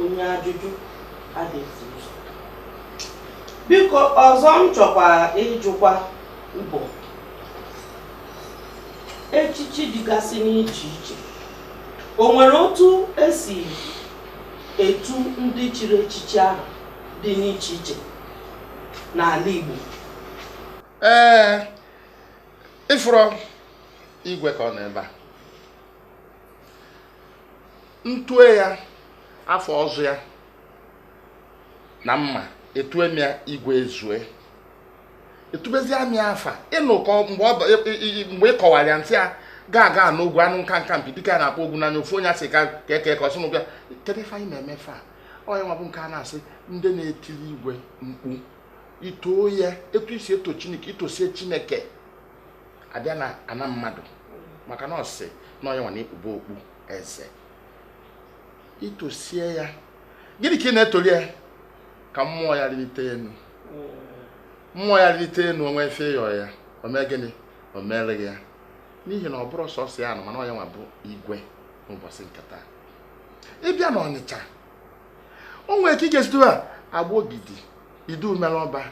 onye ajụjụ adịghị ụzọ biko ọzọ m chọkwa ịjụkwa bụ echichi dịgasị n'iche iche o nwere otu esi etu ndị chiri echichi ahụ dị n'iche iche n'ala Igbo ee ị fụrọ igwe ka ọ nọ ebe a ntue ya afa ọzọ ya na mma etue m ya igwe ezue etubezi amị afa ị nụ ka mgbe ị kọwara ya m sị ya agaga n'ogwu anụ nka nka mpi dịka a na-akpọ ogwu n'anya ofu onye asị ka eke ka ọsụnụ bịa kedu ife anyị na-eme fa ọ ya nwa bụ nke a na-asị ndị na-etiri igwe mkpu itoo ya etu isi eto chineke itosie chineke ị bịa na ana mmadụ maka na ọ sị na ọ ya nwa na-ekpube okpu eze itosie ya gịnị ka ị na-etoli ya ka mmụọ ya rịlite enu mmụọ ya lite enu o nwe ife ị yọ ya o mee gịnị o mere gị ya n'ihi na ọ bụrọ sọsọ ya nọ mana ọ ya nwa bụ igwe n'ụbọsị nke taa ị bịa na ọnịcha o nwere ka ị ga-esi tue ya agbogidi idu mere ọba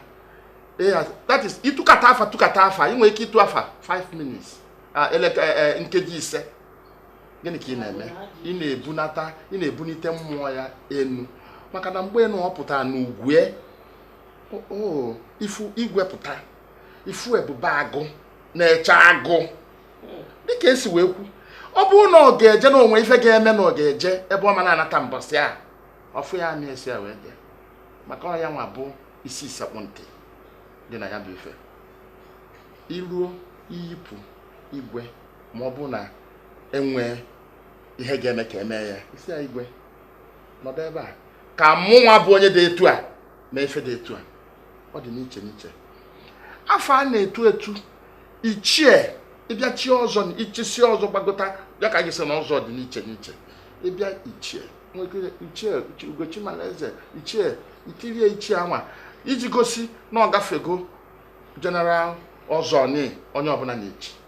that is ị tụkata afa tụkata afa ị nwere ike ịtụ afa 5 minutes ah, eh, eh, nkeji ise gịnị ka ị na-eme ị na-ebunata ị na-ebunite mmụọ ya enu maka na mgbe na ọ pụtara n'ugwe ifu igwe pụta ị fụ ebube agụ na-eche agụ dịka esi wee kwu ọ bụrụ na ọ ga-eje na o nwe ife ga-eme na ọ ga-eje ebe ọ ma na-anata mbọsị a ọ fụ ya amị esi ya wee dị maka ọ ya nwa bụ isi sekpụ ntị dị na ya bụ ife iruo iyipụ igwe ma ọ bụ na enwee ihe ga-eme ka emee ya ị sị ya igwe nọdụ ebe a ka mụ nwa bụ onye dị etu a mee ife dị etu a ọ dị n'iche n'iche afa a na-etu etu ichie ị bịa chie ọzọ na ị chisie ọzọ gbagota ya ka e ji sị na ọzọ dị n'iche n'iche ị bịa ichie ichie ugochi mala eze ichie ikirie ichie anwa iji gosi na ọ gafego general ọzọ onye ọbụna na-echi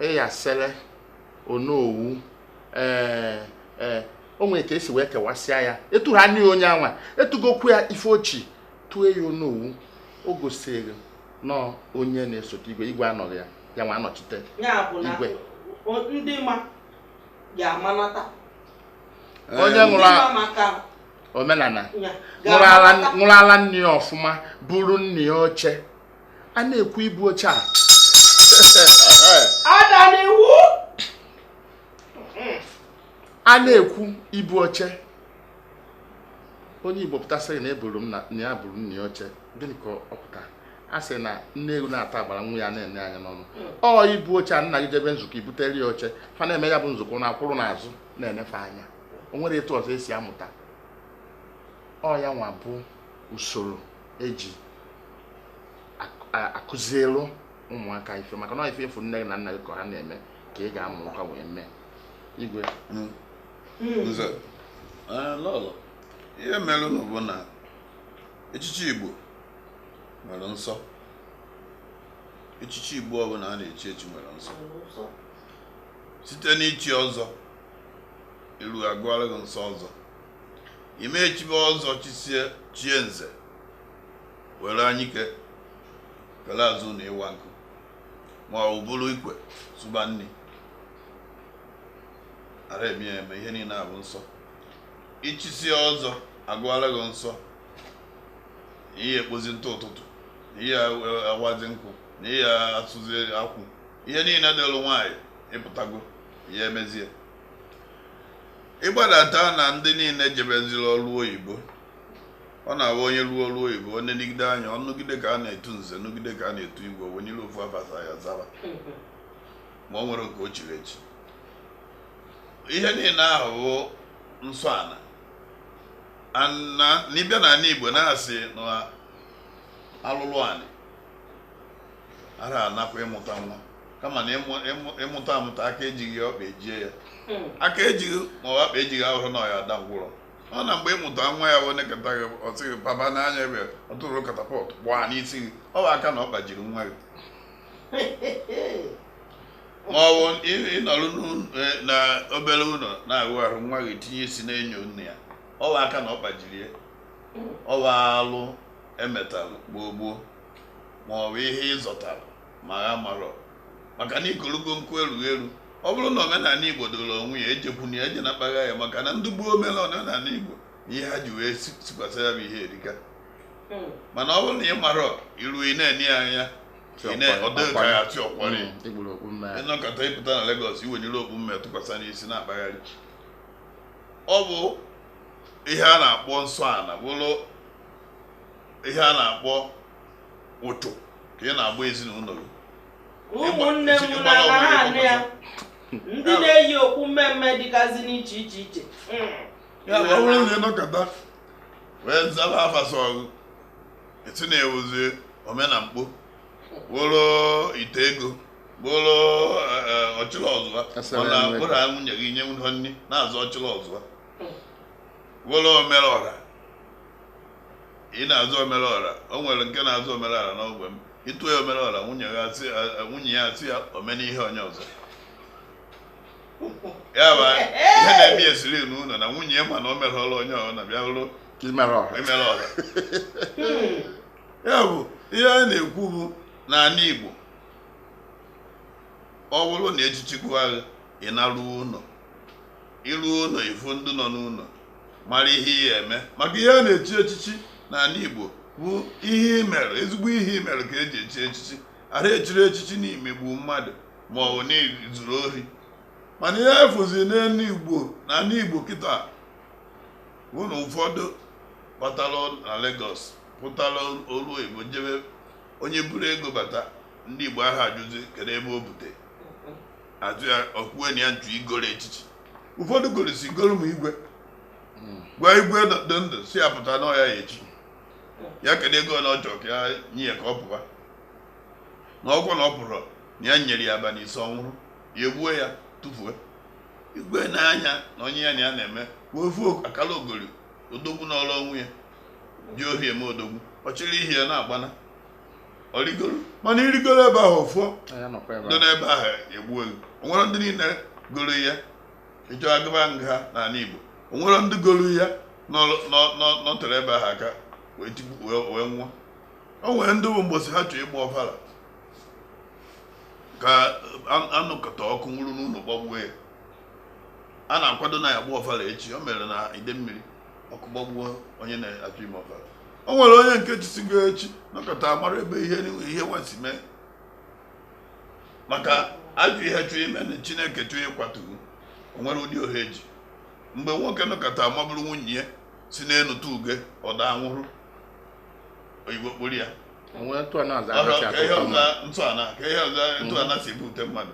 ịyasele onowu ee ee o nwere ka esi wee kewasịa ya etu ha n'ihi onye anwa etugokwu ya ife ochi tue ya onowu o gosiri na onye na-esote igwe igwe anọghị ya ya nwa anọchite igwe ndị ma ga-amanata onye ṅụrụ omenala ṅụrụ ala nne ya ọfụma buru nna ya oche a na-ekwu ibu oche a a na-ekwu ibu oche onye igbo pụta sị na eburu m na ya buru nna ya oche gịnị ka ọ pụta a sị na nne ewu na-ata agbara nwa ya na-ene anya n'ọnụ ọ ibu oche a nna gị jebe nzukọ i butere ya oche fa na-eme ya bụ nzukọ na-akwụrụ n'azụ na-enefe anya o nwere etu ọzọ esi amụta ọ ya nwa bụ usoro eji akụzilu ụmụaka ife maka na ife ị fụ nne gị na nna gị ka ha na-eme ka ị ga-amụ aka wee mee igwe hmm. Hmm. nze eh, lọlọ ihe merenụ bụ na echichi igbo nwere nsọ echichi igbo ọbụla a na-echi echi nwere nsọ site n'ichi ọzọ i ruo agụọla gị nsọ ọzọ i mee chibe ọzọ chisie chie nze were anyike kele azụ na ịwa nkụ ma ọ buru ikwe sụba nni ara eme ya eme ihe niile a bụ nsọ i chisie ọzọ agụọla gị nsọ ị ya-ekpozi ntụ ụtụtụ na ị ya-awazi nkụ na ị ya-asụzi akwụ ihe niile dịlụ nwaanyị ị pụtago ya emezie ị gbadata na ndị niile jebeziri ọrụ oyibo ọ na-abụ onye rụọ ọrụ oyibo o nenegide anya ọ nụgide ka a na-etu nze nụgide ka a na-etu igwe o wenilie ofu afa sọ ya zaba ma ọ nwere nke o chiri echi ihe niile ahụ bụ nsọ ana n'ịbịa n'anị igbo na-asị na alụlụ anị ara anakwa ịmụta nwa kama na ịmụta amụta aka ejighị ya ọkpa ejie ya hmm. aka ejighị ma ọkpa ejighị ahụrụ na ya ada ngwụrọ ọ na mgbe ịmụta nwa ya wee nekata gị ọ sị gị papa n'anya ebe ọ tụrụ katapọt gbaa n'isi gị ọ bụ aka na ọ gbajiri nwa gị ma ọ bụ ịnọrọ e, na obere ụlọ na-ahụ ahụ nwa gị tinye isi n'enyo nne ya ọ bụ aka na ọ gbajiri ya ọ bụ alụ emetalụ gboo gboo ma ọ bụ ihe ị zọtara ma ha marọ maka na ikologo nkụ erughị eru ọ bụrụ na omenala igbo doro onwe ya ejekwana ya eje na-akpagha ya maka na ndị gboo mere omenala igbo ihe ha ji wee sikwasị ya bụ ihe erika hmm. mana ọ bụrụ na ị marọ iru ị na-ene ya anya ọdịkaghachị ọkwari hmm, ị nọkata ị pụta na Lagos i were okpu mme tụkwasị n'isi na-akpagharị ọ bụ ihe a na-akpọ nsọ ana bụrụ ihe a na-akpọ ụchụ ka ị na-agba ezinụlọ gị ụmụnne m na anị ya ndị na-eyi okpu mme mme dịgazi n'iche iche iche ya bụ ọ bụrụ na ị nọkata wee zaba afa sọ gị eti na-ewuzi omenamkpo bụrụ ite ego bụrụ ọchịrị ọzụa mana bụrụ nwunye gị ị nyerọ nri na-aza ọchịrị ọzụa bụrụ omere ọra ị na-aza omere ọra o nwere nke na-aza omere ọra n'ogbe m i tuo ya omere ọra nwunye ya asị ya- nwunye ya asị ya ome n'ihe onye ọzọ ya bụ ihe na-eme ya siri n'ụlọ na nwunye ya mana o mere ọrụ onye ọzọ na bịa bụrụ imere ọha emere ọra ya bụ ihe a na-ekwu bụ n'ala Igbo ọ bụrụ na echichi gụa gị ị naruo ụlọ I ruo ụlọ ị fụ ndị nọ n'ụlọ mara ihe ị ga-eme maka ihe a na-echi echichi n'ala Igbo bụ ihe i merụ ezigbo ihe i merụ ka e ji echi echichi ara echiri echichi n'imegbu mmadụ ma ọ bụ n'izuru ori mana ihe a fụzi n'ala Igbo n'ala Igbo kịta bụ na ụfọdụ batara na Lagos pụtara olu Igbo jebe onye buru ego bata ndị Igbo aha ajụzi kedu ebe o bute ajụ ya o kwue na ya nju i goro echichi ụfọdụ gorosi goruo n'igwe gwa igwe dị ndụ sị ya pụta na ọ ya ya echi ya kedu ego na ọ chọ ka ya nye ya ka ọ pụwa na ọ bụ na ọ pụrọ na ya nyere ya abalị ise ọ nwụrọ ya egbuo ya tụfuo igwe n'anya na onye ya na ya na-eme ofu akalaogori odogwu n'ọrụ onwe ya ji ohi eme odogwu ọ chịrị ihe ya na-agbana o rigoro mana i rigoro ebe ahụ ọfọ dị n'ebe ahụ egbuo gị o nwere ndị niile goro ya ị chọọ a gụba nha n'ala Igbo o nwere ndị goro ya nọterọ ebe ahụ aka wee nwụọ o nwere ndị bụ mbọsị ha chọọ ịgba ọfala ka a nọkata ọkụ nwuru n'ụlọ gbagbuo ya a na-akwado na ya-agba ọfala echi o mere na Idemmiri ọkụ gbagbuo onye na-achọ ime ọbara o nwere onye nke chisigo echi nọkata mara ebe ihe ihe nwesi mee maka ajọ ihe chọọ ime na chineke chọọ ịkwatu o nwere ụdị ohe eji mgbe nwoke nọkata maburu nwunye ya si n'elu tụ uge ọ daa nwụrụ oyibo kpọrọ ya o nwere ntụ na aza Ọrụ ka ihe ọza ntụana ka ihe ọza ntụana si ebute mmadụ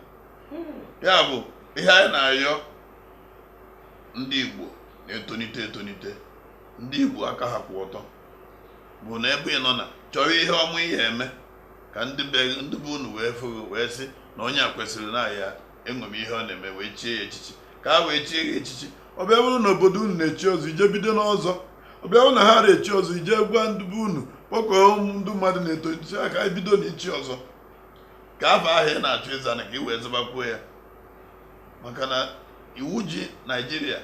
ya bụ ihe anyị na-ayọ ndị Igbo na-etonite etonite ndị Igbo aka ha kwụ ọtọ bụ na ebe ị nọ na-achọrọ ihe ọma ị ya-eme ka ndị be ndị be unu wee fụ gị wee sị na onye a kwesịrị na ya enwere ihe ọ na-eme wee chie ya echichi ka a wee chie ya echichi ọ bịa bụrụ na obodo unu na-echi ọzọ i je bido n'ọzọ ọ bịa bụrụ na ha na-echi ọzọ i je gwa ndị be unu kpọkọọ ndị mmadụ na-eto echichi aka anyị bido na ichi ọzọ ka afa ahụ ị na-achọ ịza na ka ị wee zabakwuo ya maka na iwu ji naijiria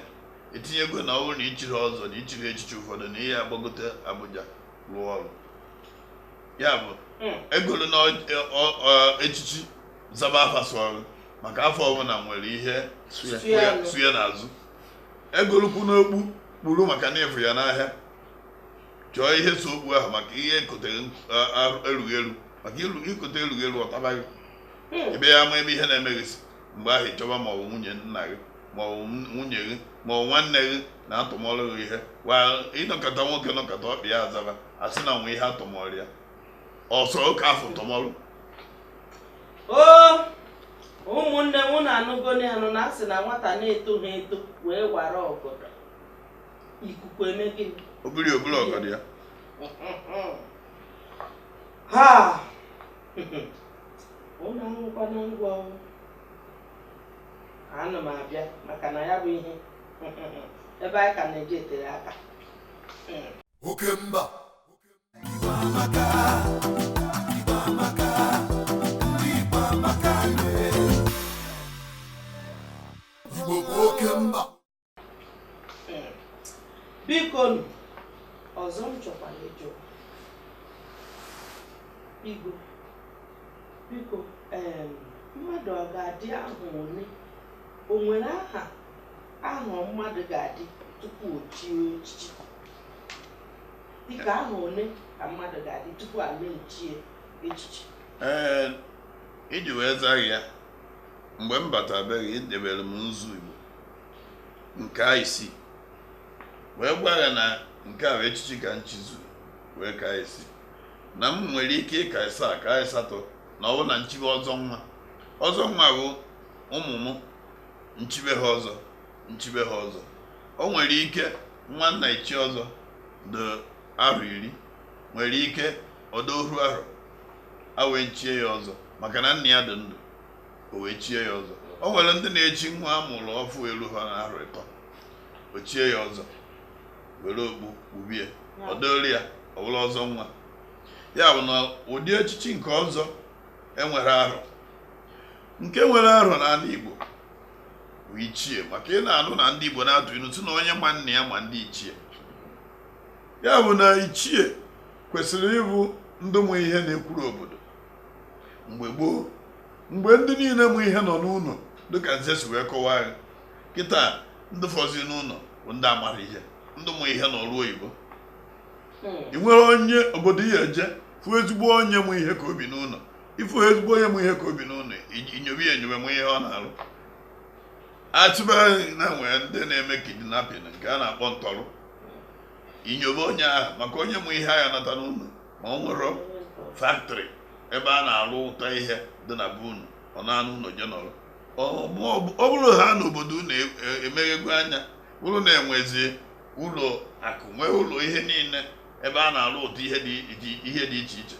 etinyego na ọ bụrụ na i chiri ọzọ na i chiri echichi ụfọdụ na ị ya-agbagote abuja rụọ ọrụ ya bụ hmm. egoluna echichi zaba afa sọrọ maka afa ọbụla nwere ihe so ya n'azụ egolukwuna okpu kpuru maka na ị fụ ya n'ahịa chọọ ihe so okpu ahụ maka ihe e kotere erughị eru maka i kote erughị eru ọ tabaa gị hmm. ebe ya ama ebe ihe na-eme gị si mgbe ahụ ị chọba ma ọ bụ nwunye nna gị ma ọ bụ nwunye gị ma ọ bụ nwanne gị na atụmọrụ gị ihe wa ị nọkata nwoke nọkata ọkpa ya azaba a sị na nwe ihe atụmọrụ ya ọsọ oke afa tụmọrụ o ụmụnne m unu anụgoni anụ na a sị na nwata na-etoghị eto wee wara ọgọdọ ikuku eme gịnị o buru o buru ọgọdọ ya ha unu anụkwanụ ngwa ana m abịa maka na ya bụ ihe ebe anyị ka na-eje tere aka oke mba Igbo amaka Igbo amaka ndị Igbo amaka Igbo bụ oke mba bikonụ ọzọ m chọkwara ịjụ igwe biko mmadụ ọ ga-adị ahọ ole o nwere ahọ ahọ mmadụ ga-adị tupu o chie echichi dịka ahọ ole ka mmadụ ga-adị tupu a na-echie echichi ee iji wee zaa ya mgbe m batabeghị edebere m nzu igbo nke a i si wee gwa ya na nke a bụ echichi ka m chizu wee ka a sị na m nwere ike ịka ịsaa ka ịsatọ na ọ bụ na m chibe ọzọ nwa ọzọ nwa bụ ụmụ m m chibe ha ọzọ m chibe ha ọzọ o nwere ike nwa na-echi ọzọ dị arọ iri nwere ike ọ dị oru arọ a wee chie ya ọzọ maka na nna ya dị ndụ o wee chie ya ọzọ o nwere ndị na-echi nwa a mụrụ ọfụ eluha na arọ ịtọ o chie ya ọzọ were okpu kpubie ọ dịrị ya ọ bụla ọzọ nwa ya bụ na ụdị echichi nke ọzọ e nwere arọ nke nwere arọ n'ala Igbo bụ ichie maka ị na-anụ na ndị Igbo na-atụ ilu sị na onye ma nna ya ma ndị ichie ya bụ na ichie kwesịrị ịbụ ndị mụ ihe na-ekwuru obodo mgbe gboo mgbe ndị niile mụ ihe nọ n'ụlọ dịka nze si wee kọwaa ya kịta ndị fọzi n'ụlọ bụ ndị amara ihe ndị mụ ihe nọ ọrụ oyibo hmm. ị nwere onye obodo ya-eje fụ ezigbo onye mụ ihe ka o bi n'ụlọ ị fụ ezigbo onye mụ ihe ka o bi n'ụlọ i nyobe ya enyobe mụ ihe ọ na-arụ achịbeghị na nwere ndị na-eme kidnapping nke a na-akpọ ntọrọ i nyobe onye ahụ maka onye mụ ihe agha nata n'ụlọ ma ọ nwere faktrị ebe a na-arụpụta ihe dị na be unu ọ naa n'ụlọ je nọrọ ọ bụrụ ha na obodo unu e, e, emeghego anya bụrụ na e nwezi ụlọ akụ nwee ụlọ ihe niile ebe a na-arụpụta ihe dị iche iche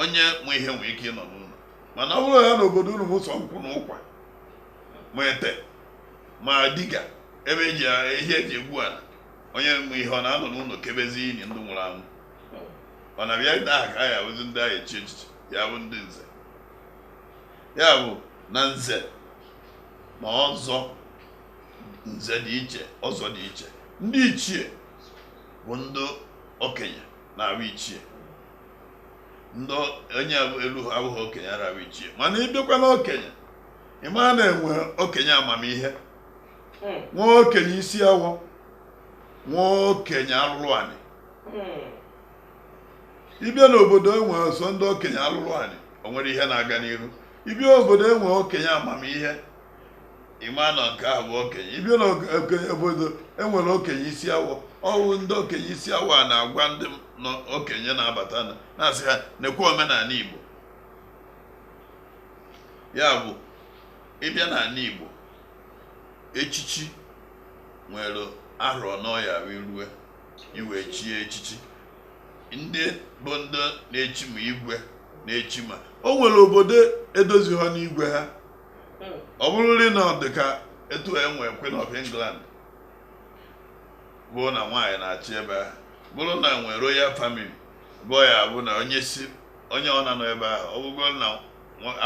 onye mụ ihe nwee ike ịnọ n'ụlọ mana ọ bụrụ ha na obodo unu bụ sọ nkwụ na ụkwa ma ete ma diga ebe ihe e ji egbu ala onye mụ ihe ọ na-anọ n'ụlọ kebezi ili ndị nwụrụ anwụ mana bịa ndị ahụ ka ya bụzi ndị ya-echi echichi ya bụ ndị nze ya bụ na nze na ọzọ nze dị iche ọzọ dị iche ndị ichie bụ ndị okenye na-abụ ichie ndị onye elu ha abụghị okenye ara abụ ichie mana ị bịakwa na okenye ị ma na e nwe okenye amamihe nwee okenye isi awọ nwee okenye alụlụ anị ị bịa n'obodo e nwe sọ ndị okenye alụlụ anị o nwere ihe na-aga n'ihu ị bịa obodo e nwe okenye amamihe ị ma na nke ahụ bụ okenye ị bịa n'obodo e nwere okenye isi awọ ọ wụ ndị okenye isi awọ a na-agwa ndị okenye na-abata na-asị ha nekwa omenala Igbo ya bụ ị bịa n'ala Igbo echichi nwere arọ n'ọya rue igwe chie echichi ndị bụ ndị na-echi ma igwe na-echi ma o nwere obodo edozi ha n'igwe ha hmm. ọ bụrụrị na ọ dị ka etu enwe Queen of England bụ na nwaanyị na-achị ebe ahụ bụrụ na e nwe royal family bụ ya bụ na onye si onye ọ na-anọ ebe ahụ ọ bụgo na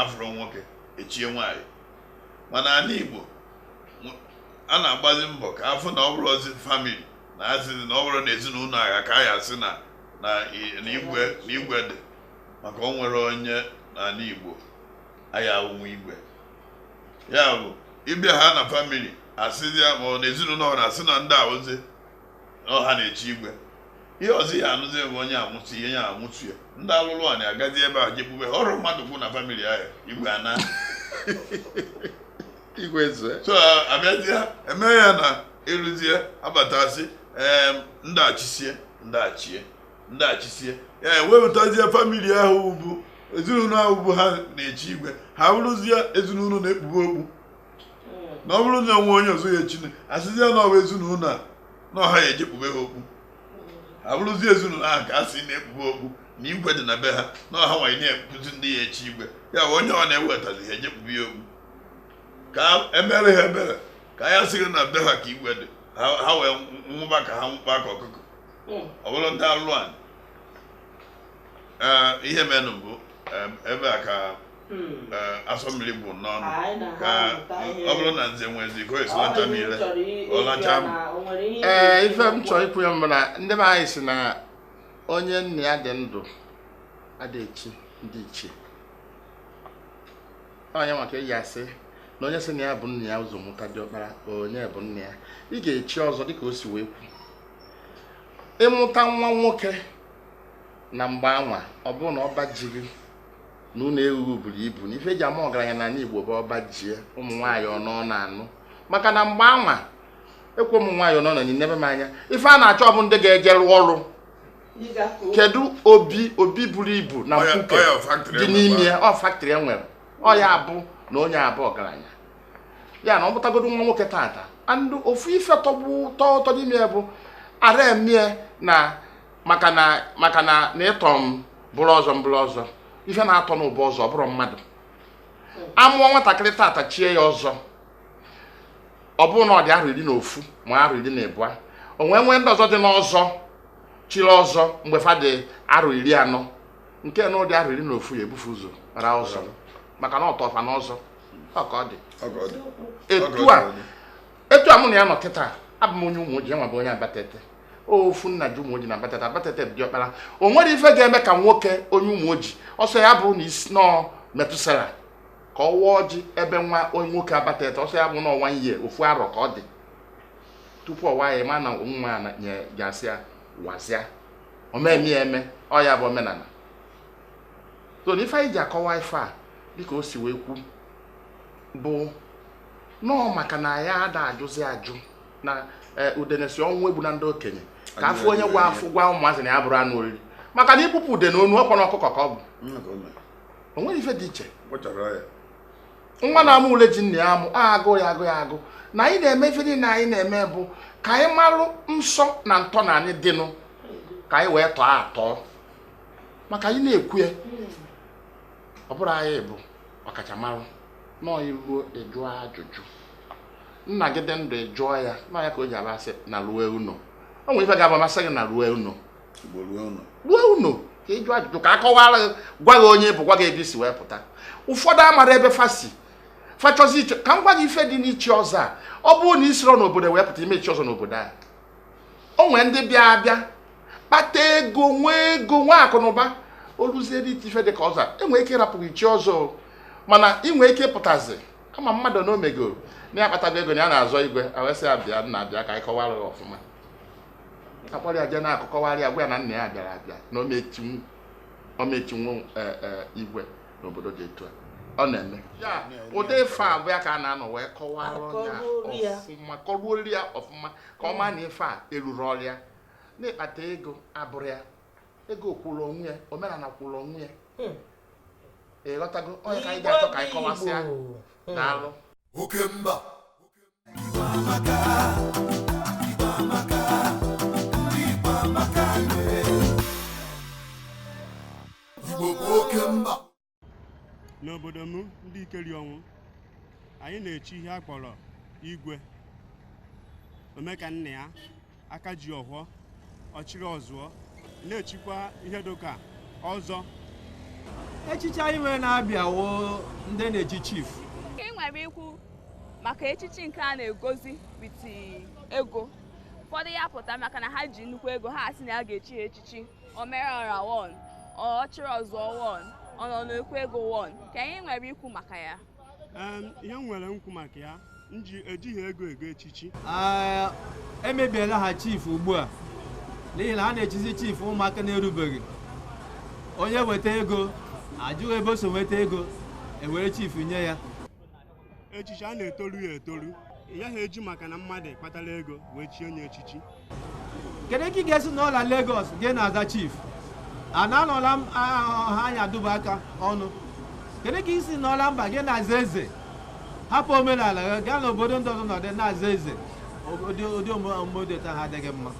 afụrọ nwoke echie nwaanyị mana anị Igbo a na-agbazi mbọ ka afụ na ọ bụrụzi family na asịzi na ọ bụrụ na ezinụlọ ahụ ka a ya asị na igwe dị maka o nwere onye n'anị Igbo aya ụmụ igwe ya bụ ị bịa ha na family asịzi ya ma ọ na ezinụlọ ọ na-asị na ndị a wụzi na ọ ha na-echi igwe ihe ọzọ ya anụzi bụ onye amụsị ihe ya amụsị ya ndị alụlụ a na-agazi ebe a jekpube ofu mmadụ okpu na family ahụ igwe ana igwe zue so abịazie eme ya na ịrụzie abatazi ndachisie ndachie ndachisie ya ewepụtazie family ahụ bụ ezinụlọ ahụ bụ ha na-echi igwe ha bụrụzie ezinụlọ na-ekpube okpu na ọ bụrụ na o nwe onye ọzọ ya echine asịzie na ọ wụ ezinụlọ a na ọ ha ya ejekpube ha okpu ha bụrụzi ezinụlọ ahụ ka a sị na-ekpube okpu na igwe dị na be ha na ọ ha nwanyị na-ekpuzi ndị ya echi igwe ya onye ọ na-ewetazi ha ejekpube ya okpu ka emere ha ebere ka a ya asị na be ha ka igwe dị ha wee nwụba ka ha nwụkpa ka ọkụkọ hmm. ọ bụrụ ndị alụ anyị ihe menụ bụ ebe a ka hmm. asọ mmiri bụ n'ọnụ ka ọ bụrụ na nze nwezi ka esi lacha mmiri ọlacha m ee ife m chọrọ ikwu ya bụ na ndị be anyị si na onye nna ya dị ndụ adịghị echi ndị ichie onye maka eji asị na onye sị na ya bu nna ya ụzọ mụta diọkpara onye bụ nna ya ị ga-echi ọzọ dịka o si wee kwu ịmụta nwa nwoke na mgbe anwa ọ bụrụ na ọba ji gị na ụlọ ewu buru ibu na ife eji ama ọgaranya n'anị Igbo bụ ọba ji ụmụ nwaanyị ọ nọ na-anụ maka na mgbe anwa ekwe ụmụ nwaanyị ọnọ na-enebe mma anya ife a na-achọ bụ ndị ga-eje rụọ ọrụ kedu obi buru ibu na mkpuke dị n'ime ya ọ factory e nwere ọ ya bụ na onye a bụ ọgaranya ya na ọ mụtagodo nwa nwoke tata andụ ofu ife tọgbu tọ ụtọ n'ime ya bụ ara emie na maka na na ịtọ m bụrụ ọzọ m bụrụ ọzọ ife na-atọ m bụ ọzọ ọ bụrụ mmadụ amụọ nwatakịrị tata chie ya ọzọ ọ bụrụ na ọ dị arọ iri na ofu ma arọ iri na ịbụa o nwee nwee ndị ọzọ dị n'ọzọ chiri ọzọ mgbe fa dị arọ iri anọ nke nụ dị arọ iri na ofu ya ebu fa ụzọ ra ọzọ maka na ọ tọọ fa n'ọzọ ọ ka ọ dị etu a etu a mụ na ya nọ kịta abụ m onye ụmụoji nwa bụ onye abatete ofu nna ji ụmụoji na abatete abatete bụ diọkpala o nwerọ ife ga-eme ka nwoke onye ụmụoji ọ sọ ya bụrụ na isi nọọ methuselah ka ọ waa ọjị ebe nwa onye nwoke abatete ọ sọ ya bụ na ọ nwa ihe ofu arọ ka ọ dị tupu ọ waa ya mana nwa ya na- nye- ya sị ya wazịa omeme ya eme ọ ya bụ omenala so na ife anyị ji akọwa ife a dịka o si wee kwu bụ nnọọ maka na ya ada ajụzi ajụ na eh, udene sị ọnwụ egbuna ndị okenye ka a fụ onye ga-afụ gwa ụmụazị na ya abụrọ anụ oriri maka na i gbupụ udene onu ọkpọ na ọkụkọ ka ọ bụ o nwerọ ife dị iche nwa na-amụ ule ji nna ya amụ agụ ya agụ ya agụ na anyị na-eme ife niile anyị na-eme bụ ka anyị marụ nsọ na ntọana anyị dịnụ ka anyị wee tọọ atọ maka anyị na-ekwu ya ọ bụrọ anyị bụ ọkachamara no i ruo ị jụọ ajụjụ nna gị dị ndụ ị jụọ ya na ọ ya ka o ji abụ a sị narue ụnọ o nwere ife ga-abụ m asị gị narue ụnọ rue ụnọ ka ị jụọ ajụjụ ka a kọwara gị gwa gị onye ị bụ gwa gị ebe i si wee pụta ụfọdụ amarọ ebe fa si fa chọzi ichi ka m gwa gị ife dị n'ichi ọzọ a ọ bụrụ na i siro n'obodo wee pụta ị ma-echi ọzọ n'obodo a o nwee ndị bịa abịa kpata ego nwee ego nwee akụ na ụba o luzie n'ichi ife dị ka ọzọ e nwee ike ịrapụ gị i chie ọzọ mana i nwerọ ike pụtazi ama mmadụ na o megoro na ya akpatago ego na ya na-azọ igwe e wee sị bịa nna bịa ka anyị kọwara ọfụma a kpọrọ ya jee n'akụkụ kọwarị ya gwa ya na nna ya bịara abịa na ọ ma-echinwu e, e, igwe n'obodo dị etu a ọ na-eme ya ụdị ife a bụ ya ka a na-anọ wee kọwara ya ọfụma kọruori ya ọfụma ka ọ maa na ife a erurọ ya na ịkpata ego abụrọ ya ego kwụrụ onwe ya omenala kwụrụ onwe ya hmm. ị ghọtago ọ nya ka anyị ga-achọ ka anyị kọwasịa hmm. daalụ oke mba n'obodo m ndikerionwu anyị na-echi ihe a kpọrọ igwe ome ka nna ya aka ji ọhọ ọchịrị ọzụọ na-echikwa ihe dịka ọzọ echichi anyị nwere na-abịa wụ ndị na-echi chief ka ị nwere ikwu maka echichi nke a na-egozi with ego ụfọdụ ya pụta maka na ha ji nnukwu ego ha asị na ya ga-echi ha echichi o mere ọra one ọchịrị ọzụọ one ọ nọ n'ekwu ego one gịnị i nwere ikwu maka ya ihe m nwere ikwu maka ya nji ejighị ego ego echichi emebiela ha chief ugbu a n'ihi na a na-echizi chief ụmụaka na-erubeghị onye weta ego ajụghị ebe o si nweta ego ewere chief nye ya echichi a na-etoru ya etoru ị gaghị eji maka na mmadụ kpatara ego wee chie onye echichi kedu ka ị ga-esi nọ la Lagos gị na-aza chief a na-anọla m ha anya duba aka ọnụ kedu ka i si nọ la mba gị na-aza eze hapụ omenala gị gaa n'obodo ndị ọzọ nọdụ na-aza eze ụdị ụdị omume dị otu ahụ adịghị mma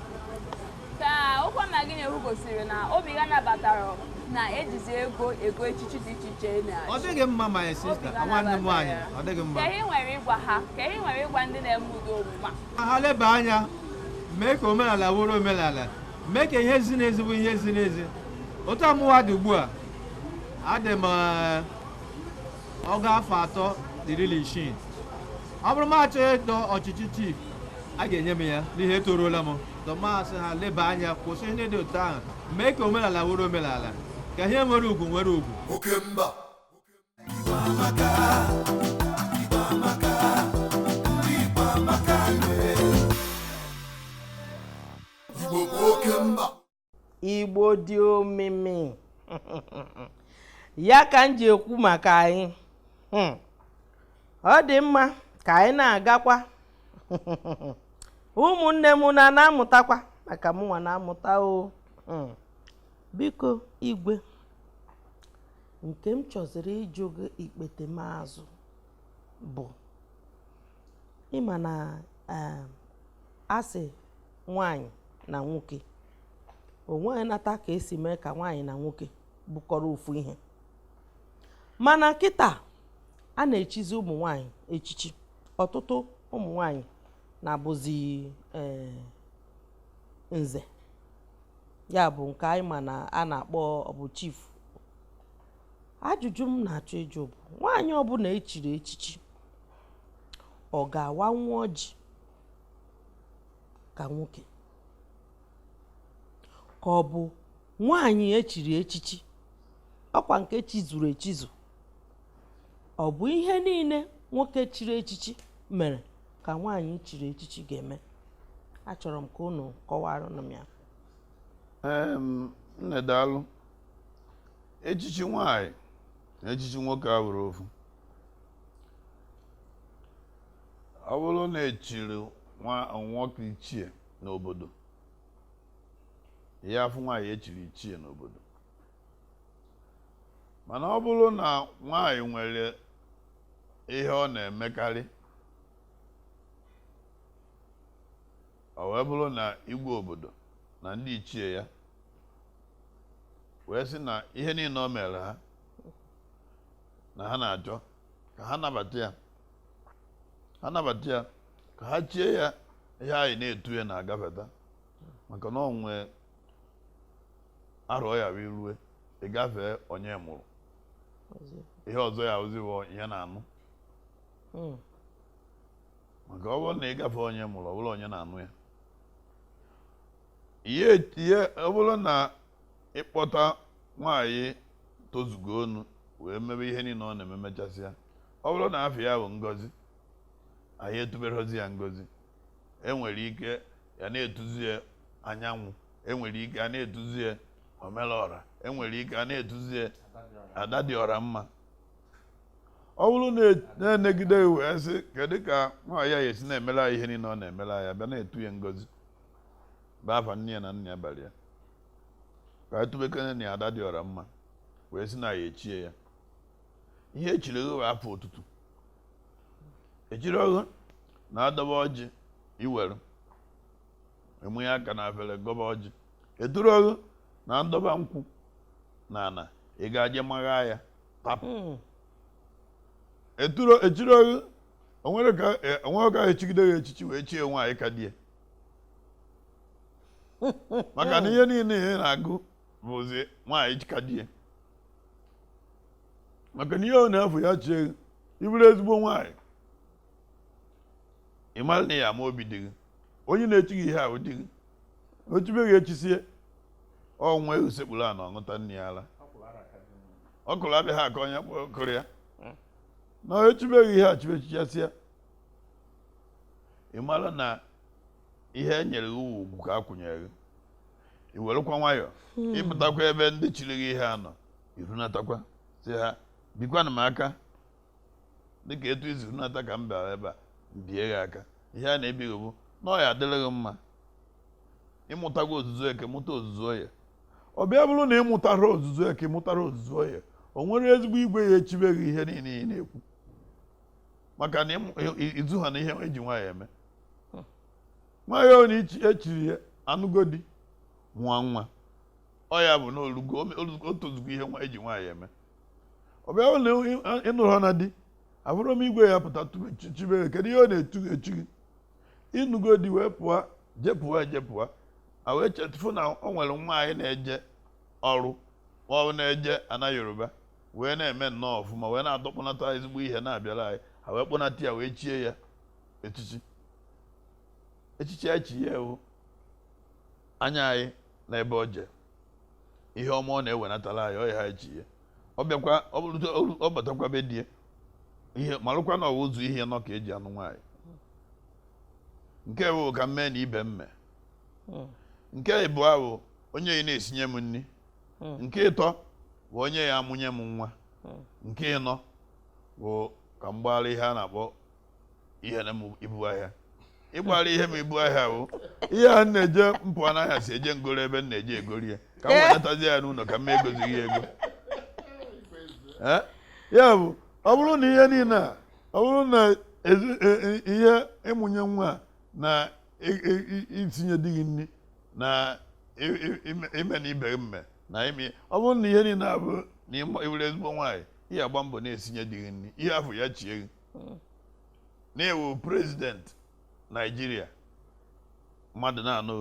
ka okwu ọma gị na-ekwu gosiri na obi gị nabatara na ejizi ego ego echichi dị iche iche na ọ dịghị mma my sister nwanne m nwaanyị ọ dịghị mma kee ihe i nwere ịgwa ha kee ihe i nwere ịgwa ndị na-eme ụdị omume a ka ha leba anya mee ka omenala wụrụ omenala mee ka ihe ziri ezi wụ ihe ziri ezi otu a mụwa dị ugbu a adị m eh, ọgụ afọ atọ na iri na isii ọ bụrụ mụ achọọ ịdọ ọchịchị chief a ga-enye m ya n'ihi etoruola m tọmasị ha leba anya kwụsị ihe dị otu ahụ mee ka omenala wụrụ omenala ka ihe nwere ugwu nwere ugwu oke mba igbo dị omimi ya ka m ji ekwu maka anyị hmm. ọ dị mma ka anyị na-agakwa ụmụnne m na na-amụtakwa maka mụnwa na-amụta o hmm. biko igwe nke m chọziri ịjụ gị ikpete m azụ bụ ị ma na um, a sị nwanyị na nwoke onweghị nata ka esi mee ka nwaanyị na nwoke bụkọrọ ofu ihe mana kịta a na-echizi ụmụ nwanyị echichi ọtụtụ ụmụ nwanyị na-abụzi um, nze ya bụ nke anyị ma na a na-akpọ bụ chief ajụjụ m na-achọ ịjụ bụ nwaanyị ọbụla echiri echichi ọ ga-awanwu ọjị ka nwoke ka ọ bụ nwaanyị echiri echichi ọkwa nke echizuru echizu ọ bụ ihe niile nwoke chiri echichi mere ka nwaanyị chiri echichi ga-eme achọrọ m ka unu kọwara m ya nne daalụ echichi nwaanyị na echichi nwoke abụrọ ofu ọ bụrụ na echiri nwoke ichie n'obodo ya afụ nwaanyị echiri ichie n'obodo mana ọ bụrụ na nwaanyị nwere ihe ọ na-emekarị ọ wee bụrụ na igwe obodo na ndị ichie ya wee sị na ihe niile o meere ha na ha na-achọ ka ha nabata ya ha nabata ya ka ha chie ya ihe anyị na-etu ya na-agafeta maka na ọ nwee arọ ya wee rue ị gafee onye mụrụ ihe ọzọ ya abụzi onye na-anụ hmm. maka ọ bụrụ na ị gafee onye mụrụ ọ bụrụ onye na-anụ ya ihe ihe ọ bụrụ na ịkpọta nwaanyị tozugo onu wee mebe ihe niile ọ na-eme mechasịa ọ bụrụ na afa ya bụ ngozi anyị etuberozi ya ngozi enwere ike ya na-etuzi ya anyanwụ enwere ike a na-etuzi ya omelọra enwere ike a na-etuzi ya ada dị ọra mma ọ bụrụ na enegide ya, wee sị kedu ka nwaanyị a ya-esi na-emere anyị ihe niile ọ na-emere anyị bịa na-etu ya ngozi bụ afa nne ya na nna ya bara ya ka anyị tubekene ya ada dị ọra mma wee si na ya echie ya ihe echiri gị bụ afa otutu echirọ gị na a dọba ọjị iwere manye aka na afere gọba ọjị eturọ gị na a dọba nkwụ na ana ị ga-aje magha ya tapụ hmm. eturọ echirọ gị onwere ka e, onwere ka echigide ya echichi wee chie nwaanyị ka di ya maka na ihe niile ị na-agụ bụzi nwaanyị ka di ya maka na ihe ọ na-afụ ya chie gị ị bụrụ ezigbo nwaanyị ị mara na ya ama obi di gị onye na-echi gị ihe a bụ di gị echibe gị echisie ọnwa ehu sekpuru ana ọṅụta nne ya ala ọ kụrụ abịa gị aka onye kpọrọ kụrụ ya na echibe gị ihe e chibe chichasịa ị mara na ihe e nyere gị ugwu ka a kwanyere gị i werekwa nwayọọ hmm. ịpụtakwa ebe ndị chiri gị ihe a nọ irunatakwa sị ha bikwanụ m aka dịka etu i si runata ka m bịara ebe a mbie gị aka ihe a na-ebi gị bụ na ọ ya adịrị gị mma ịmụtago ozuzu eke mụta ozuzu oye ọ bịa bụrụ na ịmụtara ozuzu eke mụtara ozuzu oye o nwere ezigbo igwe ya echibe gị ihe niile ị na-ekwu maka na izu ha na ihe eji nwaanyị eme nwaanyị ọ na echiri ya anụgo di nwa nwa ọ ya bụ na o lugo o tozugo ihe nwa eji nwaanyị eme ọ bịa na ịnụrụ ha na di abụrụ m igwe ya pụta chibe kedu ihe ọ na-echi gị ịnụgo di wee pụọ jepụwa ejepụwa a wee chetụfụ na ọ nwere nwa anyị na-eje ọrụ ọ na-eje ana yoruba wee na-eme nnọọ ọfụma wee na-adọkpụnata ezigbo ihe na-abịara anyị a wee kpọnata ya wee chie ya echichi echichi e chi ya wụ anya anyị na ebe o je ihe ọma ọ na-ewenatara anyị ọ ya ha chi ya ọ bịakwa ọ bụrụ ọ batakwa be di ya ya malụkwa na ọ wụ ụzọ ihe ịnọ ka eji anụ nwaanyị nke mbụ ka m mee na ibe mme Hmm. nke ịbụọ bụ onye ya na-esinye m nri Hmm. nke ịtọ bụ onye ya amụnye m nwa Hmm. nke ịnọ bụ ka m gbaara ihe a na-akpọ ihe na m ibu ahịa ịgbara ihe m ibu ahịa bụ ihe a na-eje m pụa n'ahịa si eje ngoro ebe m na-eje egori ya ka m Eh. wenatazi ya n'ụlọ ka m egozighị ya ego Eh? ya bụ ọ bụrụ na ihe niile a ọ bụrụ na ezi- e- e- ihe ịmụnye nwa a na i- i- i- isinye di gị nri na i- i- ime- ime na ibe gị mme na ime ọ bụrụ na ihe niile a bụ na ịma- ịbụrụ ezigbo nwaanyị ị ya-agba mbọ na-esinye di gị nri ị ya-afụ ya chie gị hmm. na ị wụ president naijiria mmadụ na-anụ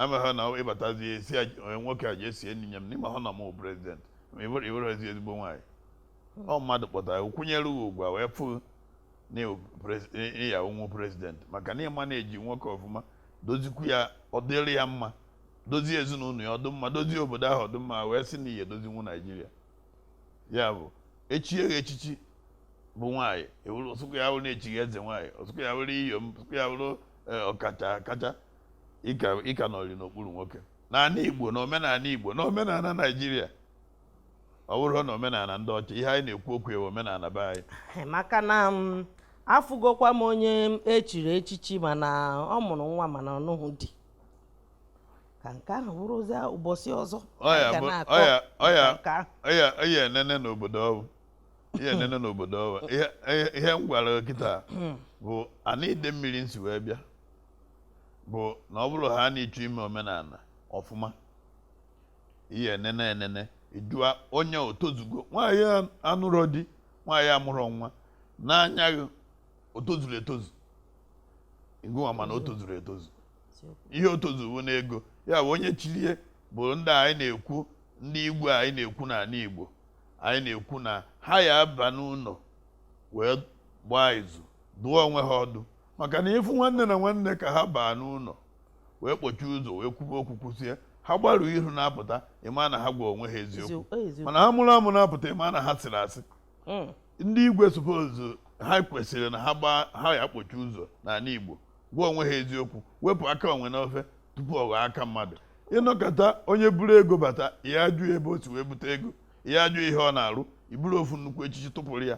amaghị na ịbatazi ị sị onye nwoke a jee sie nri nye m na ị maghị na m wụ president ị wụrọzi ezigbo nwaanyị hmm. ọ mmadụ kpọtara kwụnyere gị ugwu a wee fụ na ị ya-awụnwu president maka na ịma na-eji nwoke ọfụma dozikwu ya ọ dịrị ya mma dozie ezinụlọ ya ọ dụ mma dozie obodo ahụ ọ dụ mma wee sị na ị ya-edozinwu naijiria ya bụ e chie gị echichi bụ nwaanyị ọ sọkwu ya bụrụ na e chi gị eze nwaanyị ọ sọkwu ya bụrụ iyom ọ sọkwu ya bụrụ e, ọkacha akacha ị ka nọrị n'okpuru nwoke n'ala igbo na omenala igbo na omenala naijiria ọ bụrọ na omenala ndị ọcha ihe anyị na-ekwu okwu ya bụ omenala be anyị maka na mm, afụgokwa m onye echiri echichi mana ọ mụrụ nwa mana ọ nụghị di ka nke ahụ bụrụzie ụbọchị ọzọ ọ ihe enene n'obodo ọwụ ihe enene n'obodo ọwụ ihe m gwara kịta hmm. bụ ana idemmiri m si wee bịa bụ na ọ bụrụ ha na ị chọ ime omenala ọfụma ihe enene enene ị jụa onye o tozugo nwaanyị anụrọ di nwaanyị amụrọ nwa n'anya gị o tozuru etozu ị gwa m na o tozuru etozu ihe o tozuwo n'ego ya bụ onye chilie bụ ndị anyị na-ekwu ndị igwe anyị na-ekwu n'ala Igbo anyị na-ekwu na ha ya aba n'ụlọ wee gbaa izu dụọ onwe ha ọdụ maka na ịfụ nwanne na nwanne ka ha baa n'ụlọ wee kpọchie ụzọ wee kwube okwu kwusie ha gbaru ihu na-apụta ịma na ha gwa onwe ha eziokwu mana ha mụrụ amụ na-apụta ịma na ha sịrị asị hmm. ndị igwe suppose ha kwesịrị na ha ya akpọchi ụzọ n'ala Igbo gwa onwe ha eziokwu wepụ aka enwe n'ofe tupu ọ ghọọ aka mmadụ ị nọkata onye buru ego bata ya ajụ ebe o si wee bute ego ya ajụ ihe ọ na-arụ i buru ofu nnukwu echichi tụpụrụ ya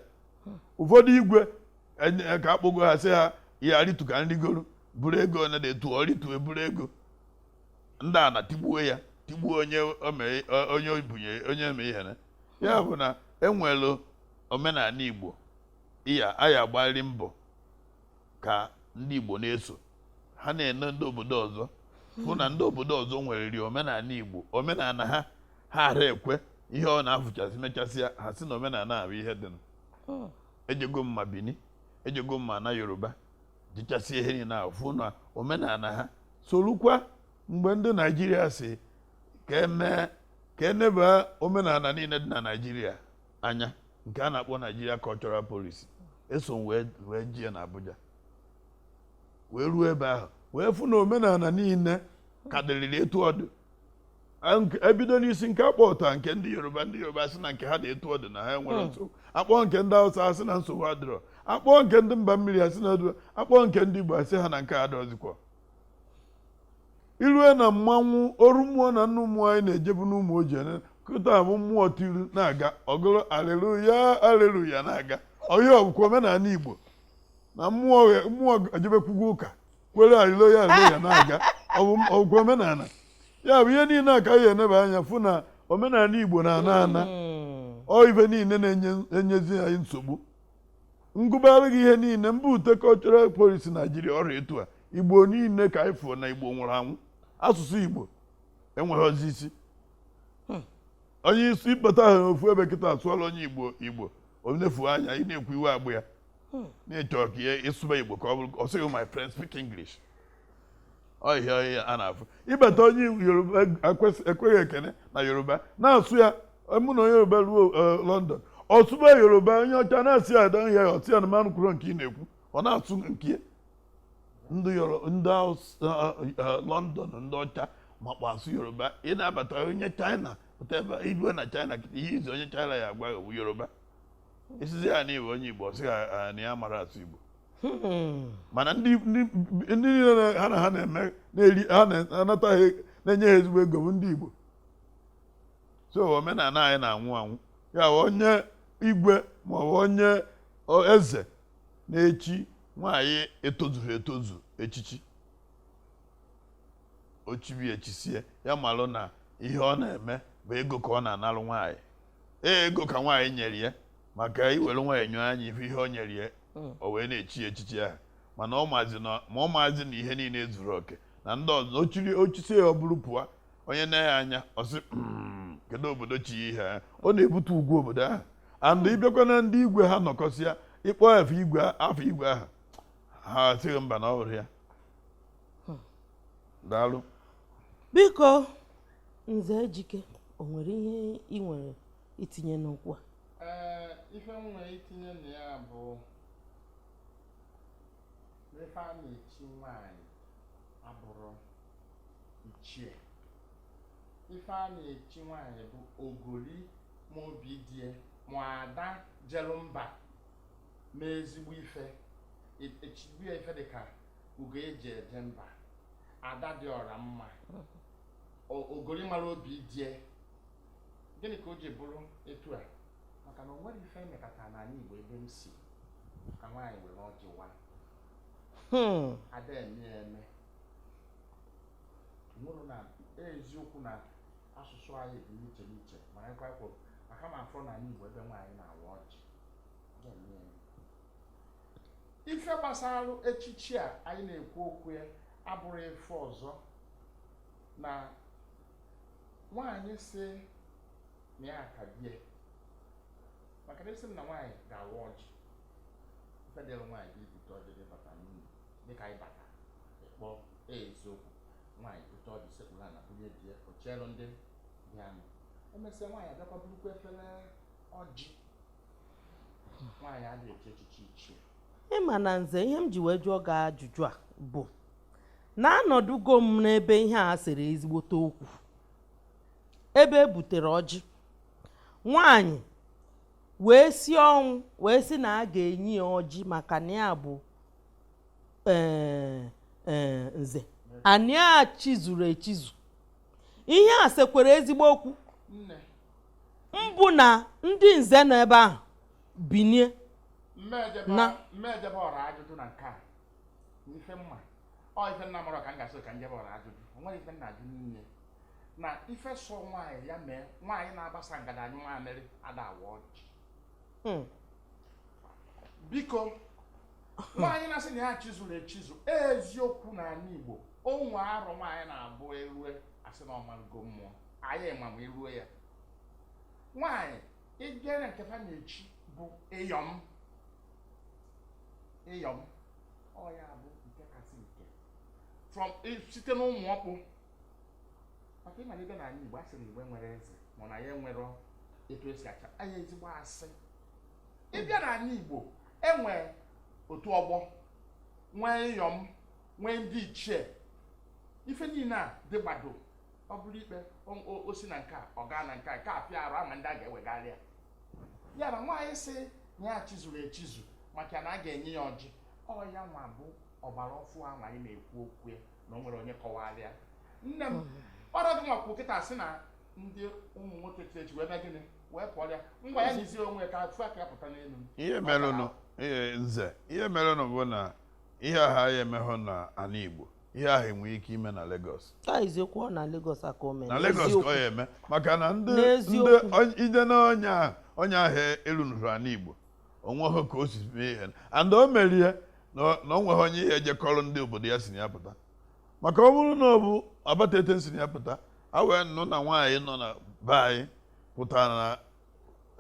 ụfọdụ igwe e, ka akpọgo ha sị ha ya ritu ka m rigoro buru ego onye na-etu ọ ritu eburu ego ndị a na tigbuo ya tigbuo onye onye obunye onye eme ihe na ya bụ na enwelu omenala igbo iya aya agbalị mbọ ka ndị Igbo na-eso ha na-ene ndị obodo ọzọ fụ na ndị obodo ọzọ nwereri omenala Igbo omenala ha ha ara ekwe ihe ọ na-afụchasị mechasịa ha sị na omenala bụ ihe dị hmm. ejego m ma Bini ejego m ma na Yoruba jechasịa ihe niile ahụ fụ na omenala ha solukwa mgbe ndị Naijiria sị ka emee ka eneba omenala niile dị na Naijiria anya nke a na-akpọ Nigeria Cultural Policy eso m wee wee jee na Abuja wee ruo ebe ahụ wee fụ na omenala niile ka dịrịrị etu ọ dị Ank- ebido n'isi nke akpọta nke ndị yoruba ndị yoruba sị na nke ha dị etu ọ dị na ha enwerọ nsogbu akpọ nke ndị hausa asị na nsogbu adịrọ akpọ nke ndị mba mmiri asị na adịrọ akpọ nke ndị igbo asị ha na nke ha adọzikwa i rue na mmanwụ oru mmụọ na nnu mmụọ anyị na-ejebu n'Ụmụọji ene kịta bụ mmụọ tiri na-aga ọ gụrụ aleluya aleluya na-aga ihe a ọ bụkwa omenala igbo na mmụọ ghe- mmụọ ejebekwugo ụka kwere aleluya aleluya na-aga ọ bụ ọ bụkwa omenala ya bụ ihe niile a ka anyị eneba anya fụ na omenala igbo na-ana ana ọ ife niile na-enyezi anyị nsogbu m gụbara gị ihe niile mgbe e rute cultural policy naijiria ọ dị etu a igbo niile ka anyị fụọ na igbo nwụrụ anwụ asụsụ igbo enweghịzi isi hmm. onye isi ịkpọta ha n'ofu ebe kịta asụọla onye igbo igbo o nefu anya ị na-ekwu iwe egbu ya hmm. na-echọ ka ya ịsụba igbo ka ọ bụrụ ọ sị gị my friend speak english ọ ihe a ọ ihe a na-afụ ị bata onye yoruba ekene gị ekene na yoruba na-asụ ya mụ na onye yoruba ruo e, london ọ sụba yoruba onye ọcha na-asị ya ada ya ọtụ ya na mmanụ kwuru nke ị na-ekwu ọ na-asụ nke ndị london ndị ọcha makwa asụ yoruba ị na-abata onye china pụta ebe i rue na china ihe izizi onye china ya agwa yoruba ị sizi ya na ị wụ onye Igbo sị ya na ya mara asụ Igbo hmm. mana ndị niile ha na ha na-eme ha na-anata ha na-enye ha ezigbo ego bụ ndị Igbo so omenala anyị na-anwụ anwụ ya wụ onye igwe ma ọ bụ onye eze na-echi nwaanyị etozughị etozu echichi ochibi echisie ya malụ na ihe ọ na-eme bụ ego ka ọ na-analụ nwaanyị ee ego ka nwaanyị nyere ya maka ị were nwaanyị nyọọ anya ife ihe o nyere ya hmm. o wee na-echi ya echichi ahụ mana ọ maazị na ma ọ maazị na ihe niile zuru oke na ndị ọzọ o chiri o chisie ya o buru pụọ onye nee ya anya ọ sị hmm, kedu obodo chi ihe a ọ na-ebutu ugwu obodo ahụ and ị bịakwa na ndị igwe ha nọkọsịa ị kpọọ afa igwe afa igwe ahụ ha asị gị mba na ọ bụrọ ya hmm. daalụ biko Nze Ejike, o nwere ihe ị nwere itinye n'okwu a? Ee, ife m nwere itinye na ya bụ na ife a na-echi nwaanyị abụrọ ichie. Ife a na-echi nwaanyị bụ ogoli ma obi di ya, ma ada jelu mba mee ezigbo ife. E- Echigbu ya ife dị ka ugo e ji eje mba ada dị ọra mma ogori mara obi di ya gịnị ka o ji bụrụ etu a maka na o nwerọ ife e mekata n'anị Igbo ebe m si ka nwaanyị were ọjị waa hmm. ada eme ya eme nwụrụ na eziokwu na asụsụ anyị dị n'iche n'iche ma anyị kwakwo maka m afụrọ n'anị Igbo ebe nwaanyị na-awa ọjị ife gbasara echichi a anyị na-ekwu okwu ya abụrọ ife ọzọ na nwaanyị sị na ya ka di ya maka na esi m na nwaanyị ga-awa ọjị ife dịrị nwaanyị bụ ibute ọjị di bata n'ụlọ dịka anyị bata ịkpọ eziokwu nwaanyị bute ọjị sekpuru ana bunye di ya o cheelụ ndị bịanụ emesịa nwaanyị abịakwa burukwa efere ọjị ị ma na nze ihe m ji wee jụọ gị ajụjụ a bụ na anọdụgo m n'ebe ihe a seere ezigbote okwu ebe e butere ọjị nwanyị wee sie ọnwụ wee sị na a ga-enye ya ọjị maka na ya bụ e, e, nze anị e chizuru echizu ihe a sekwara ezigbo okwu mbụ na ndị nze nọ ebe ahụ binie na m ejebe ọra ajụjụ na nke a ife m ma ọ ife m na-amarọ ka m ga-asị ka m jebe ọra ajụjụ onwerọ ife m na-ajụ n'ime na ife sọ nwaanyị ya mee nwaanyị na-agbasa ngada anyụ nwaamịrị ada awa ọjị hmm. biko nwaanyị na-asị na ya chizuru echizu eziokwu na anị Igbo o nwee arọ nwaanyị na-abụ erue asị na ọ mago mmụọ anyị ma ma iruo ya nwaanyị ịbịa na nke fa na-echi bụ ịyọm ịyọm ọ ya bụ nke kasị nke from i- site n'ụmụ ọkpụ maka ịmara ịbịa na anị igbo a sị na igbo enwero eze ma na ya enwero etu esi achị anyị ezigbo asị ịbịa na anị igbo enwee otu ọgbọ nwee ịyọm nwee ndị ichie ife niile a dịgbado ọ bụrụ ikpe o si na nke a ọ gaa na nke a nke a kpee arụ a ma ndị a ga-ewegara ya ya na nwaanyị sị ya chizuru echizu maka na a ga-enye ya ọjị ọ ya nwa bụ ọgbara ọfụụ a anyị na-ekwu okwu ya na o nwere onye kọwara ya nne m hmm. ọrụ gị nwakwụ kịta sị na ndị ụmụ nwoke chi echi wee mee gịnị wee pụọ ya ngwa ya jizie onwe ka afụ aka ya pụta n'elu nze ihe merenụ bụ na ihe ha ya emeghụ na anị Igbo ihe ahụ enwere ike ime na Lagos eziokwu na Lagos ka o mere na Lagos ka ọ ya eme maka na ndị ide na onye ahụ erunụrụ anị Igbo onweghị ka o si mee ihe and o merie na o nweghị onye ihe ejekọrọ ndị obodo ya si na ya pụta maka ọ bụrụ na ọ bụ Abatete si na ya pụta a wee nụ na nwaanyị nọ na be anyị pụtara na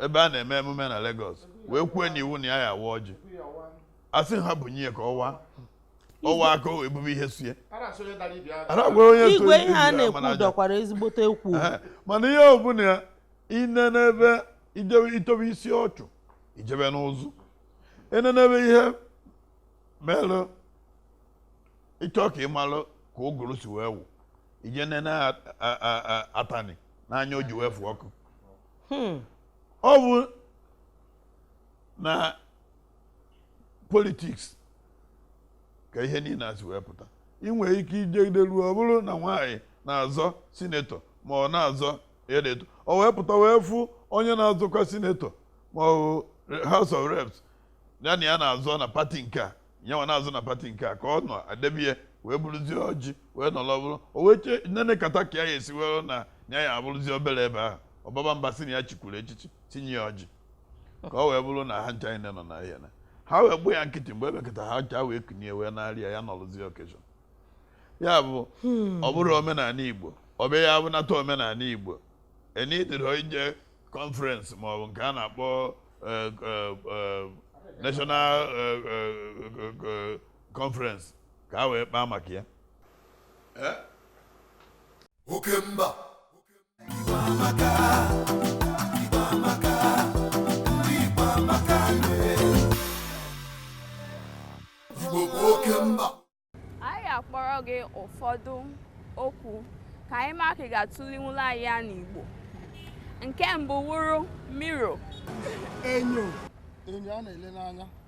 ebe a na-eme emume na Lagos wee kwuo na iwu na ya ya awa ọjị asị ha bunye ya ka ọ waa ọ waa ka ebube ihe sie igwe ihe a na-ekwu dọkwara ezigbote ekwu mana ihe ọbụla i nenebe ị tọbe isi ọchụ i jebe n'ụzụ enenebe ihe melụ ị chọọ ka ị malụ ka ụgụrụ si wee wụ i jee nene atani n'anya o ji wee fụ ọkụ hmm. ọ bụ na politiks ka ihe niile a si wee pụta ị nwere ike ijegide ruo ọ bụrụ na nwaanyị na-azọ sinetọ ma ọ na-azọ edeto o wee pụta wee fụ onye na-azọkwa sinetọ ma ọ bụ House of Reps ya na ya na-azọ na pati nke a nyanwa na-azọ na pati nke a ka ọ nọ adebie wee buruzie ọjị wee nọrọ buru o wee chee nene kata ka ya esi were na ya ya abụrụzie obere ebe ahụ ọ baba mba sị na ya chikwuru echichi sị nye ya ọjị ka ọ wee bụrụ na ha ncha niile nọ na ihe na ha wee gbuo ya nkịtị mgbe ebekọta ha ncha wee kunie wee narị ya ya nọrụzie occasion ya bụ ọ bụrụ omenala igbo ọ bụ ya abụnata omenala igbo e needịrị ije conference ma ọ bụ nke a na-akpọ eh, eh, eh, national eh, eh, eh, eh, conference ka a wee kpaa maka ya oke mba anyị akpọrọ gị ụfọdụ okwu ka anyị ma ka ị ga-atụlinwula anyị ya n'Igbo nke mbụ wụrụ mirror enyo enyo a na-ele n'anya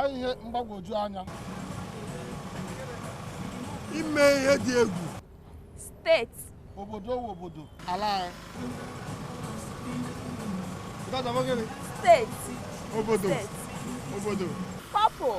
ọ ihe mgbagwoju anya ime ihe dị egwu state obodo ọ wụ obodo ala anyị state obodo obodo couple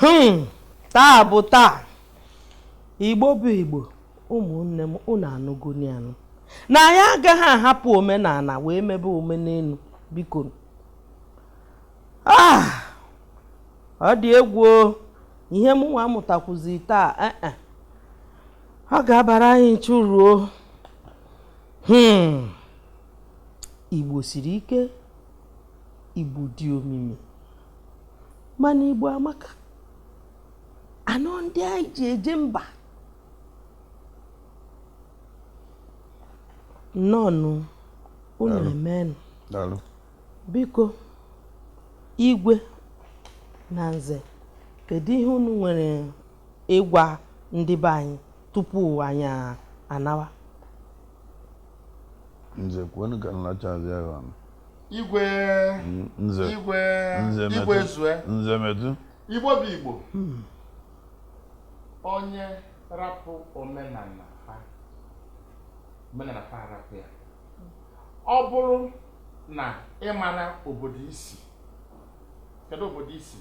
hmm, taa bụ taa igbo bụ igbo ụmụnne m unu anụgonụ ya nụ na anyị agaghị ahapụ omenala wee mebe omenelu biko ah, ọ dị egwu ihe m nwa mụtakwuzi taa eh, eh. ọ ga-abara anyị ncha uru o hmm. igbo siri ike igbo dị omimi mana igbo amaka nnọọ ndị anyị ji eje mba nnọọnụ unu emenụ biko igwe na nze kedu ihe unu nwere ịgwa ndị be anyị tupu anyị anawa nze kwuonụ ka m lachazie ya ọnụ igwe nze igwe nze igwe medu zue nze medu igbo bụ igbo onye rapụ omenala fa omenala fa arapụ ya ọ bụrụ na ị mara obodo i si kedu obodo i si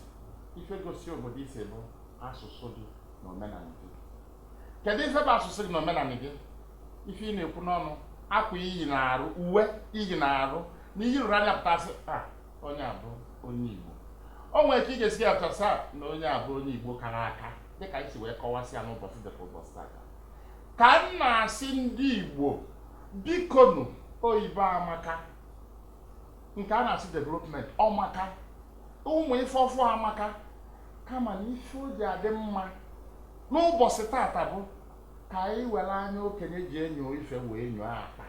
ife gosi obodo i si bụ asụsụ gị na omenala gị kedu ife bụ asụsụ gị na omenala gị ife ị na-ekwu n'ọnụ akwa i yi n'arụ uwe i yi n'arụ na i yiri na-apụta sị a onye a bụ onye igbo o nwere ka ị ga-esi ya pụta sị a na onye a bụ onye igbo kara aka dịka i si wee kọwasị ya n'ụbọsị dịka ụbọsị tata ka m na-asị ndị igbo bikonu oyibo amaka nke a na-asị development ọ maka ụmụ ife ọfụ amaka kama na ife o ji adị mma n'ụbọchị tata bụ ka anyị were anya okenye ji enyo ife wee nyoo akpa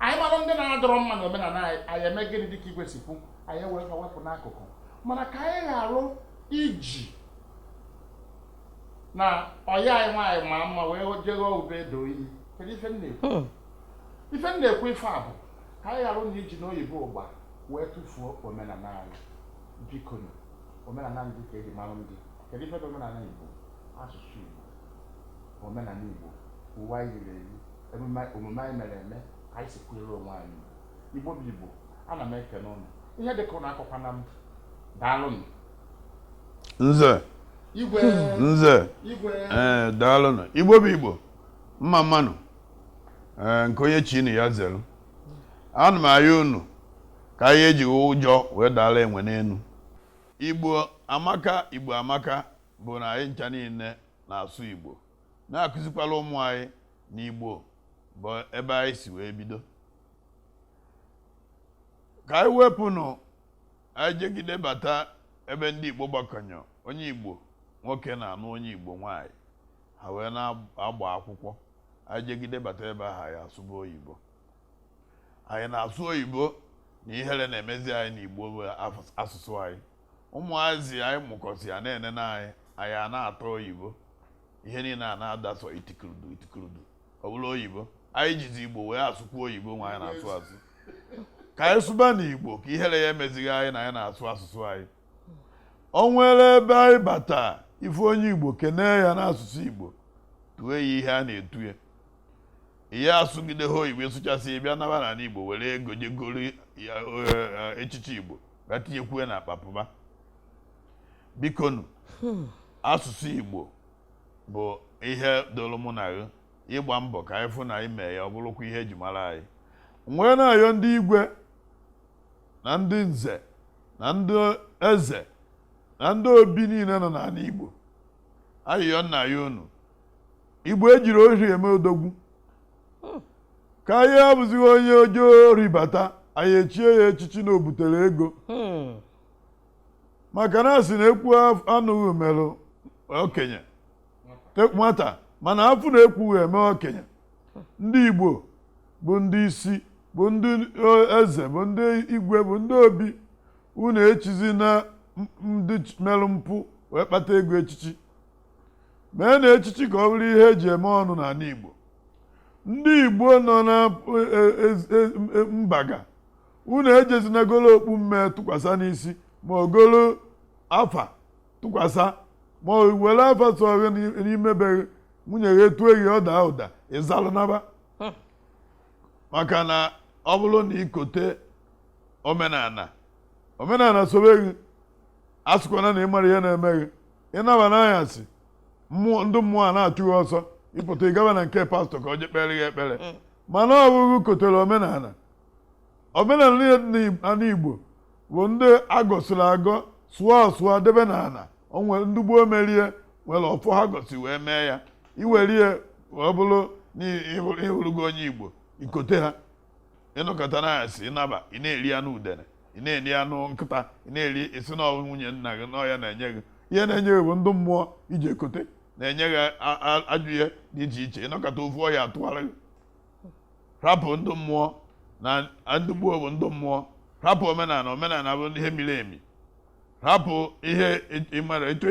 anyị mara ndị na-adịrọ mma na omenala anyị anyị eme gịnị dịka igwe si kwu anyị were fa wepụ n'akụkụ mana ka anyị ghara iji na ọyị anyị nwaanyị ma mma wee je ghọọ ube e do iyi kedu ife m na-ekwu Hmm. ife m na-ekwu ife a bụ ka anyị ghara na iji n'oyibo ụgba wee tụfuo omenala anyị bikonu omenala ndị ka eji mara ndị kedu ife bụ omenala igbo asụsụ igbo omenala igbo uwe anyị yiri eyi emume omume anyị mere eme ka anyị si kwere onwe anyị igbo bụ igbo ana m ekene ụnụ ihe dịka ụnụ akọkwana m daalụnụ nze igwe nze igwe ee daalụnụ igbo bụ igbo mma mmanụ nke onye chiri ya zere ana m arịọ unu ka anyị ejighị ụjọ wee daala enwe n'elu igbo amaka igbo amaka bụ na anyị ncha niile na-asụ igbo na-akụzikwala ụmụ anyị na igbo bụ ebe anyị si wee bido ka anyị wepụnụ anyị jegide bata ebe ndị igbo gbakọ onye onye igbo nwoke na-anụ onye igbo nwaanyị ha wee na-agba akwụkwọ anyị jegide bata ebe ahụ anyị asụba oyibo anyị na-asụ oyibo na ihere na-emezi anyị n'igbo bụ af- asụsụ anyị ụmụazị anyị mụkọsịa na-enene anyị anya a na-ata oyibo ihe niile a na-ada sọ itikurudu itikurudu ọ bụrụ oyibo anyị jizi igbo wee asụkwu oyibo nwa anyị na-asụ asụ ka anyị sụbanụ igbo ka ihere ya emezighị anyị na anyị na-asụ asụsụ anyị o nwere ebe anyị bata ị fụ onye igbo kenee ya n'asụsụ igbo tue ya ihe a na-etu ya ya asụgide gị oyibo sụchasịa bịa naba n'ala igbo were ego je goro eh, echichi igbo bịa tinyekwue n'akpa pụba bikonu asụsụ igbo bụ ihe dịrị mụ na gị ịgba mbọ ka anyị fụ na anyị mee ya ọ bụrụkwa ihe eji mara anyị m wee na-ayọ ndị igwe na ndị nze na ndị eze na ndị obi niile nọ n'ala Igbo ayịyọ m na-ayọ unu Igbo ejirọ ori eme odogwu ka ya abụzighị onye zuo ori bata anyị echie ya echichi na o butere ego maka na a sị na ekwu anụghị merụ okenye nwata mana afụ na-ekwughị eme okenye ndị Igbo bụ ndị isi bụ ndị eze bụ ndị igwe bụ ndị obi unu echizina ndị merụ mpụ wee kpata ego echichi meena echichi ka ọ bụrụ ihe eji eme ọnụ n'ala Igbo ndị Igbo nọ na e, e, e, mba ga unu ejezina golo okpu mme tụkwasa n'isi ma o golo afa tụkwasa ma o were afa sọ gị n'ime be gị nwunye gị etue gị ọ daa ụda ị zalụ naba Hmm. maka na ọ bụrụ na i kote omenala omenala sobe gị asịkwana na ị mara ihe na-eme gị ị naba n'anyasị mmụọ ndị mmụọ a na-achụ gị ọsọ ị pụta ị gaba na nke pastọ ka o je kpere gị ekpere mana ọ bụ gị kotere omenala omenala niile dị n'ala igbo bụ ndị a gọsiri agọ sụọ asụọ debe n'ala o nwere ndị gboo merie nwere ọfọ ha gọsi wee mee ya i werie wee bụrụ na ị hụrụ- ị hụrụgo onye igbo i kote ha ị nọkata n'anyasị ị naba ị na-eri anụ udene ị na-eri anụ nkịta ị na-eri ị sị na ọ bụ nwunye nna gị na ọ ya na-enye gị ihe na-enye gị bụ ndị mmụọ i ji ekote na-enye gị a- a- ajọ ihe dị iche iche ị nọkata ofu ọya atụgharị gị rapụ ndị mmụọ na ndị gboo bụ ndị mmụọ rapụ omenala omenala bụ ihe miri emi rapụ ihe ị mara etu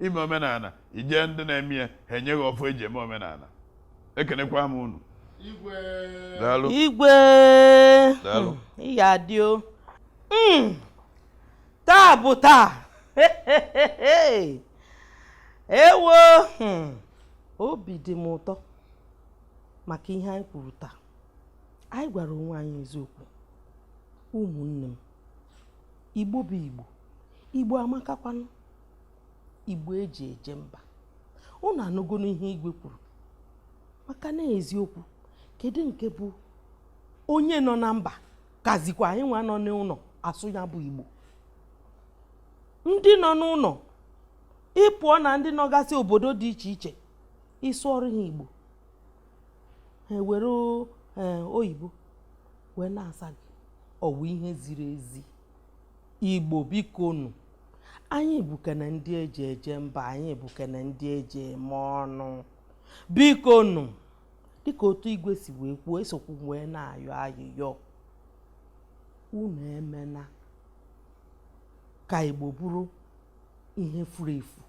ime omenala i je ndị na-eme ya ha enye gị ọfọ eji eme omenala ekenekwa m unu igwe igwe hmm, ị ga-adị o hmm, taa bụ taa ewo hmm, obi dị m ụtọ maka ihe anyị kwuru taa anyị gwara onwe anyị eziokwu ụmụnne m igbo bụ igbo igbo amakakwanụ igbo eji eje mba unu anụgonu ihe igwe kwuru maka na eziokwu kedu nke bụ onye nọ na mba kazikwa anyị nwa nọ n'ụlọ asụ ya bụ igbo ndị nọ n'ụlọ ị pụọ na ndị nọgasị obodo dị iche iche ị sụọrụ ha igbo ha ewere eh, oyibo wee na-asa gị ọ wụ ihe ziri ezi igbo biko nụ anyị bụkene ndị eji eje mba anyị bụkene ndị eji eme ọnụ biko nụ dịka otu igwe si wee kwuo esokwu wee na-ayọ ayịyọ unu emena ka igbo bụrụ ihe furu efu